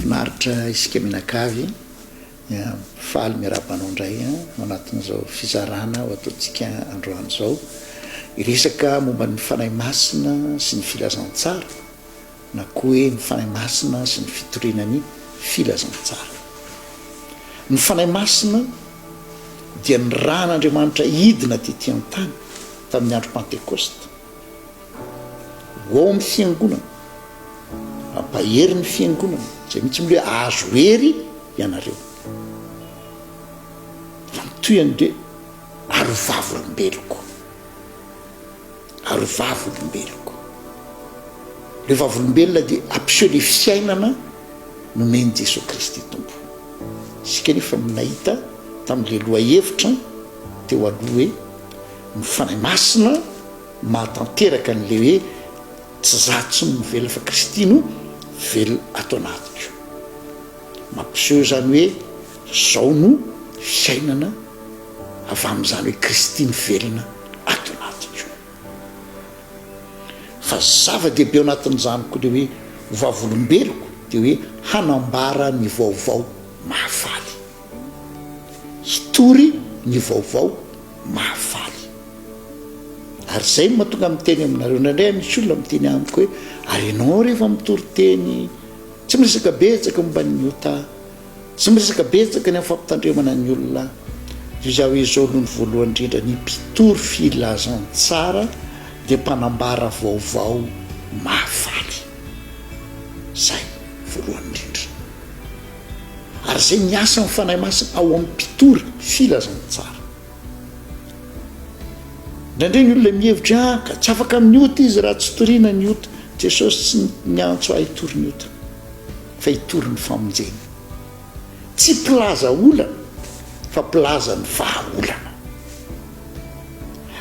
Finaritra isika mianakavy a! Faly miarahaba anao indray ao anatin'izao fizarana ho ataontsika androany izao. Hiresaka momba ny Fanahy Masina sy ny Filazantsara na koa hoe ny Fanahy Masina sy ny fitoriana ny Filazantsara. Ny Fanahy Masina dia nirahan'Andriamanitra hidina tety an-tany tamin'ny andro Pantekosta. ho ao amin'ny fiangonana, hampahery ny fiangonana, izay mihitsy moa hoe hahazo hery ianareo, raha mitohy an'i Dia ary ho vavolombeloko, ary ho vavolombeloko. Ireo vavolombelona dia hampiseho ilay fiainana nomen'i Jesoa Kristy Tompo. Isika anefa no nahita tamin'ilay lohahevitra teo aloha hoe ny Fanahy Masina, mahatanteraka an'ilay hoe tsy za tsy no mivelona fa Kristy no velona ato anatiko. Mampiseho izany hoe zao no fiainana avy amin'izany hoe Kristy mivelona ato anatiko. Fa zava-dehibe ao anatin'izany koa ilay hoe ho vavolombeloko dia hoe hanambara ny vaovao mahafaly. hitory ny vaovao mahafaly. Ary izay no mahatonga ahy miteny aminareo. Indraindray misy olona miteny amiko hoe, Ary ianao rehefa mitory teny, tsy miresaka betsaka momba ny ota, tsy miresaka betsaka ny amin'ny fampitandremana ny olona. Toy izany hoe izao aloha ny voalohany indrindra, ny mpitory filazantsara dia mpanambara vaovao mahafaly. Izay voalohany indrindra. Ary izay miasa amin'ny Fanahy Masina ao amin'ny mpitory filazantsara. Indraindray ny olona mihevitra ah ka tsy afaka amin'ny ota izy raha tsy toriana ny ota. Jesosy tsy niantso ahy hitory ny ota fa hitory ny famonjena. Tsy mpilaza olana fa mpilaza ny vahaolana.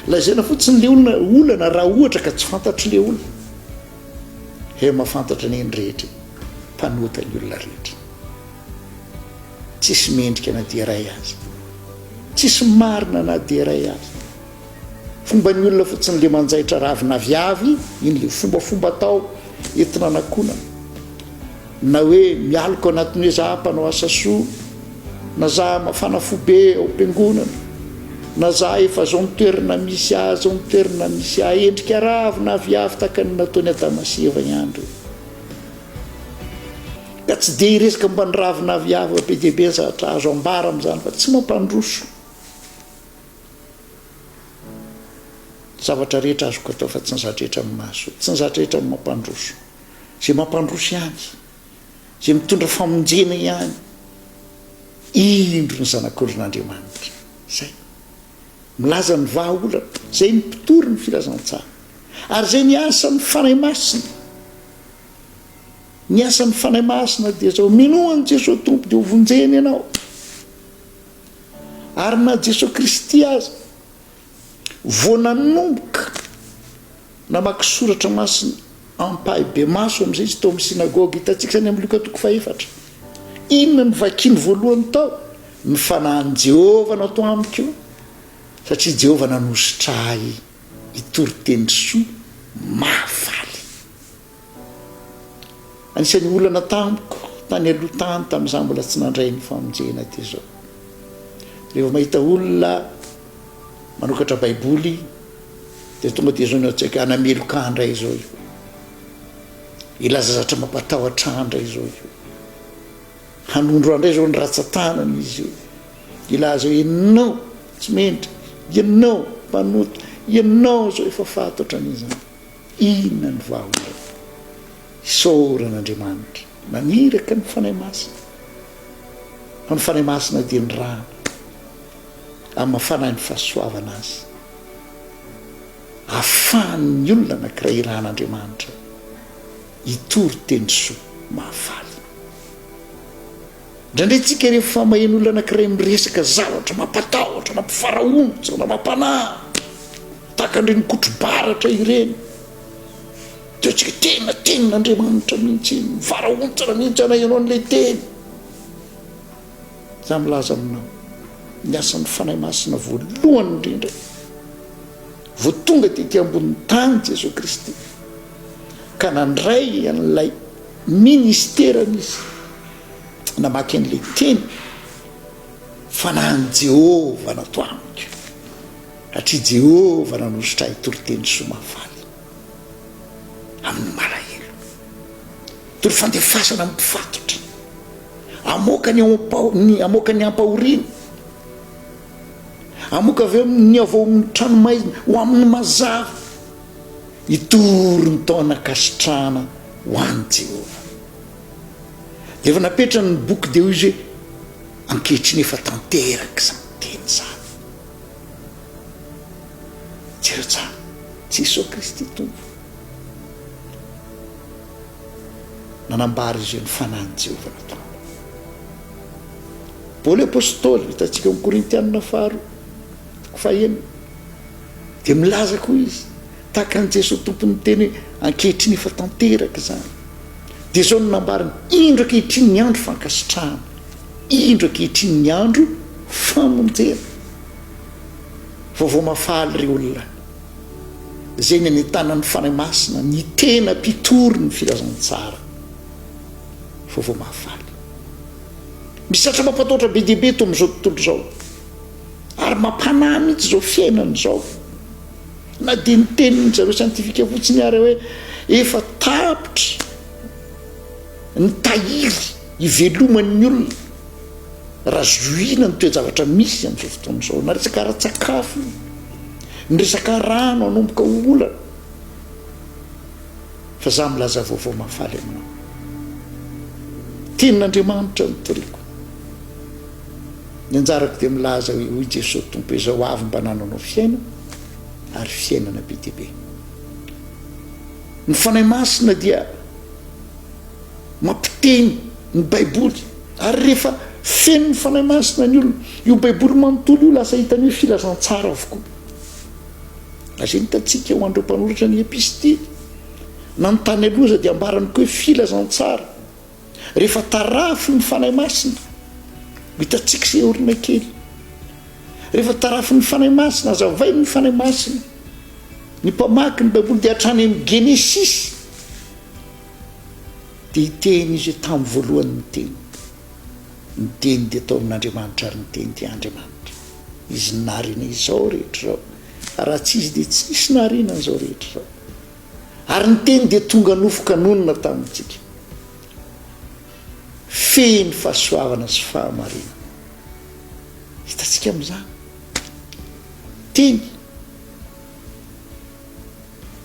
Lazaina fotsiny le olona olana raha ohatra ka tsy fantatro le olona. He mahafantatra anie ny rehetra e! Mpanota ny olona rehetra. Tsisy mendrika na dia iray aza. Tsisy marina na dia iray aza. Fomban'ny olona fotsiny le manjaitra ravin'aviavy, iny le fombafomba atao entina anakonana. Na hoe mialoka anatin'ny hoe za mpanao asa soa, na za mafana fo be ao am-piangonana, na za efa zao ny toerana misy ahy, zao ny toerana misy ahy, endrika ravo na aviavy tahaka ny nataon'i Adama sy Eva ihany ireo. Ka tsy dia hiresaka momba ny ravo na aviavy be dia be ny zavatra azo ambara amin'izany fa tsy mampandroso zavatra rehetra azoko atao fa tsy ny zavatra rehetra no mahasoa, tsy ny zavatra rehetra no mampandroso. izay mampandroso ihany, izay mitondra famonjena ihany, indro ny Zanak'olon'Andriamanitra. Izay. Milaza ny vahaolana. Izay ny mpitory ny filazantsara. Ary izay ny asan'ny Fanahy Masina. Ny asan'ny Fanahy Masina dia izao, minoa an'i Jesoa Tompo dia hovonjeny ianao. Ary na Jesoa Kristy aza, Vao nanomboka namaky soratra masina ampahibemaso amin'izay izy tao amin'ny synagoga hitantsika izany amin'ny Lioka toko fahefatra. Inona no vakiny voalohany tao? Ny fanahin'i Jehovah natao amiko, satria Jehovah nanosotra ahy hitory teny soa mahafaly. Anisan'ny olana tamiko tany aloha tany tamin'izaho mbola tsy nandray ny famonjena dia izao. Rehefa mahita olona manokatra Baiboly dia tonga dia izao ny an-tsaiko hoe hanameloka ahy indray izao io. Hilaza zavatra mampatahotra ahy indray izao io. Hanondro ahy indray izao ny ratsan-tanany izy io. Hilaza hoe ianao tsy mendrika, ianao mpanota, ianao izao efa faty ohatran'izany. Inona no vahonay? Isaorana Andriamanitra naniraka ny Fanahy Masina, fa ny Fanahy Masina dia ny rano amin'ny Fanahy ny fahasoavana azy, ahafahan'ny olona anankiray irahan'Andriamanitra hitory teny soa mahafaly. Indraindray tsika rehefa maheno olona anankiray miresaka zavatra mampatahotra, mampifarahonja, na mampanahy, tahaka an'ireny kotro-baratra ireny, dia hoantsika tena tenin'Andriamanitra mihitsy iny, mifarahontsana mihitsy anay ianao an'ilay teny. Za milaza aminao, ny asan'ny Fanahy Masina voalohany indrindra, Vao tonga tety ambonin'ny tany Jesoa Kristy ka nandray an'ilay ministerany Izy, namaky an'ilay teny fanahin'i Jehovah natao amiko, satria Jehovah nanositra ahy toriteny soa mahafaly amin'ny malahelo, tory fandefasana amin'ny mpifatotra, hamoaka ny hamoaka ny hampahoriana. Amoka avy eo ny ao amin'ny tranomaizina ho amin'ny mazava. Hitory ny taon'ankasitrahana ho an'i Jehovah. Dia efa napetrany ny boky dia hoy izy hoe, Ankehitriny efa tanteraka izany teny izany. Jereo tsara, Jesoa Kristy Tompo. nanambara izy ireo ny fanahin'i Jehovah natao. Paoly apostoly, hitantsika ao amin'ny Korintianina faharoa, toko fahenina, dia milaza koa izy, tahaka an'i Jesoa Tompo niteny hoe ankehitriny efa tanteraka izany. Dia izao no nambariny, indro ankehitriny ny andro fankasitrahana, indro ankehitriny ny andro famonjena. Vaovao mahafaly ry olona. izay nanentana ny Fanahy Masina, ny tena mpitory ny filazantsara vaovao mahafaly. Misy zatra mampatahotra be dia be eto amin'izao tontolo izao, ary mampanahy mihitsy izao fiainana izao. Na dia ny tenin'ny zareo siantifika fotsiny ary hoe efa tapitra ny tahiry iveloman'ny olona, raha zohiana ny toe-javatra misy amin'izao fotoana izao, na resaka ara-tsakafo io, ny resaka rano hanomboka ho olana, fa izaho milaza vaovao mahafaly aminao. Tenin'Andriamanitra no toriko. Ny anjarako dia milaza hoe, hoy Jesoa Tompo, izao avy mba nananao fiainana, ary fiainana be dia be. Ny Fanahy Masina dia. Mampiteny ny Baiboly, ary rehefa feno ny Fanahy Masina ny olona, io Baiboly manontolo io lasa hitany hoe filazantsara avokoa. Lazain'i Tatsika ho an'ireo mpanoratra ny Epistily na ny tany aloha aza dia ambarany koa hoe filazantsara. Rehefa tarafin'ny Fanahy Masina, ho hitantsika izay aoriana kely. Rehefa tarafin'ny Fanahy Masina, hazavain'ny Fanahy Masina, ny mpamaky ny Baiboly dia hatrany amin'ny Genesisy, Dia i Teny izay tamin'ny voalohany no Teny. Ny Teny dia tao amin'Andriamanitra ary ny Teny dia Andriamanitra. Izy narina izao rehetra izao, ary raha tsy Izy dia tsy hisy nahariana an'izao rehetra izao. Ary ny Teny dia tonga nofo ka nonina tamintsika. Feno fahasoavana sy fahamarinana. Hitantsika amin'izany. Teny.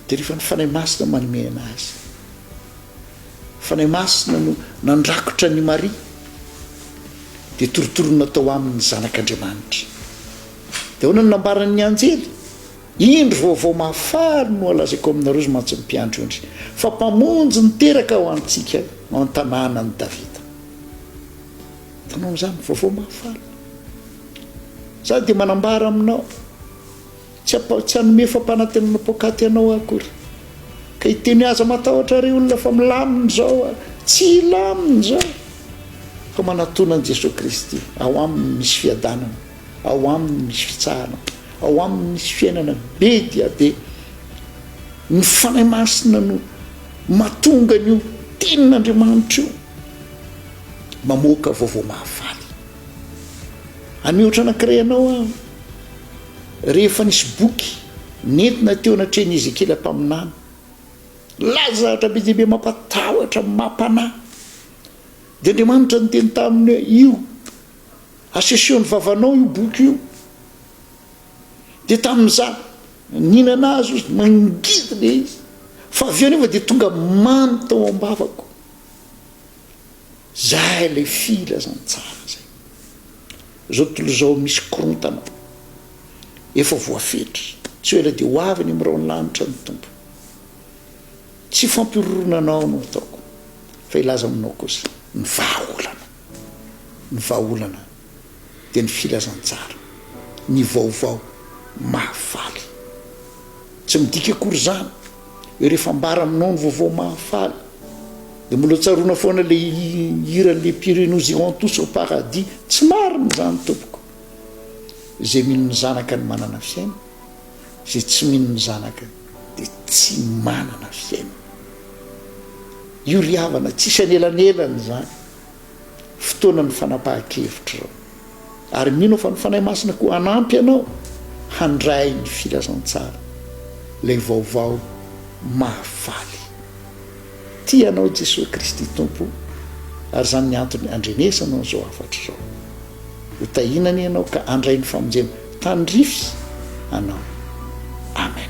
Dia rehefa ny Fanahy Masina no manome an'azy. Fanahy Masina no nandrakotra an'i Maria, dia torotoro natao aminy ny Zanak'Andriamanitra. Dia ahoana no nambaran'ny anjely? Indro vaovao mahafaly no alazaiko aminareo ry mantsy mpiandry ondry, fa Mpamonjy niteraka ho antsika ao an-tanànan'i Davida. Hitanao an'izany? Vaovao mahafaly. Izaho dia manambara aminao. Tsy ampa, tsy hanome fampanantenana poakaty anao aho akory ka hiteny aza matahotra ry olona fa milamina izao aho tsy hilamina izao fa manatona an'i Jesoa Kristy ao aminy misy fiadanana ao aminy misy fitsahana ao aminy misy fiainana be dia be ny fanahy masina no matonga an'io tenin'Andriamanitra io mamoaka vaovao mahafaly amihoatra anankiray anao aho Rehefa nisy boky nentina teo anatrehan'i Ezekiela mpaminany, nilaza zavatra be dia be mampatahotra, mampanahy. Dia Andriamanitra niteny taminy hoe, Io, aseseho ny vavanao io boky io. Dia tamin'izany, nihinana azy izy, mangidy ilay izy. Fa avy eo anefa dia tonga mamy tao am-bavako. Izay ilay filazantsara izay. Izao tontolo izao misy korontana efa voafetra, tsy ho ela dia ho avy any amin'ny rahon'ny lanitra ny Tompo. Tsy fampihorohoroana anao no ataoko, fa hilaza aminao kosa ny vahaolana. Ny vahaolana dia ny filazantsara, ny vaovao mahafaly. Tsy midika akory izany hoe rehefa ambara aminao ny vaovao mahafaly dia mbola tsaroana foana ilay hiran'i Les Pires Nous irons tous au paradis. Tsy marina izany tompoko. Izay mino ny zanaka no manana fiainana, izay tsy mino ny zanaka dia tsy manana fiainana. Io ry havana, tsisy anelanelana izany. fotoanan'ny fanapahan-kevitrao. Ary mino aho fa ny Fanahy Masina koa hanampy anao handray ny filazantsara, ilay vaovao mahafaly. Tia anao Jesoa Kristy Tompo, ary izany ny antony andrenesany an'izao hafatra izao. Ho tahiana anie ianao ka handray ny famonjena tandrify anao. Amen.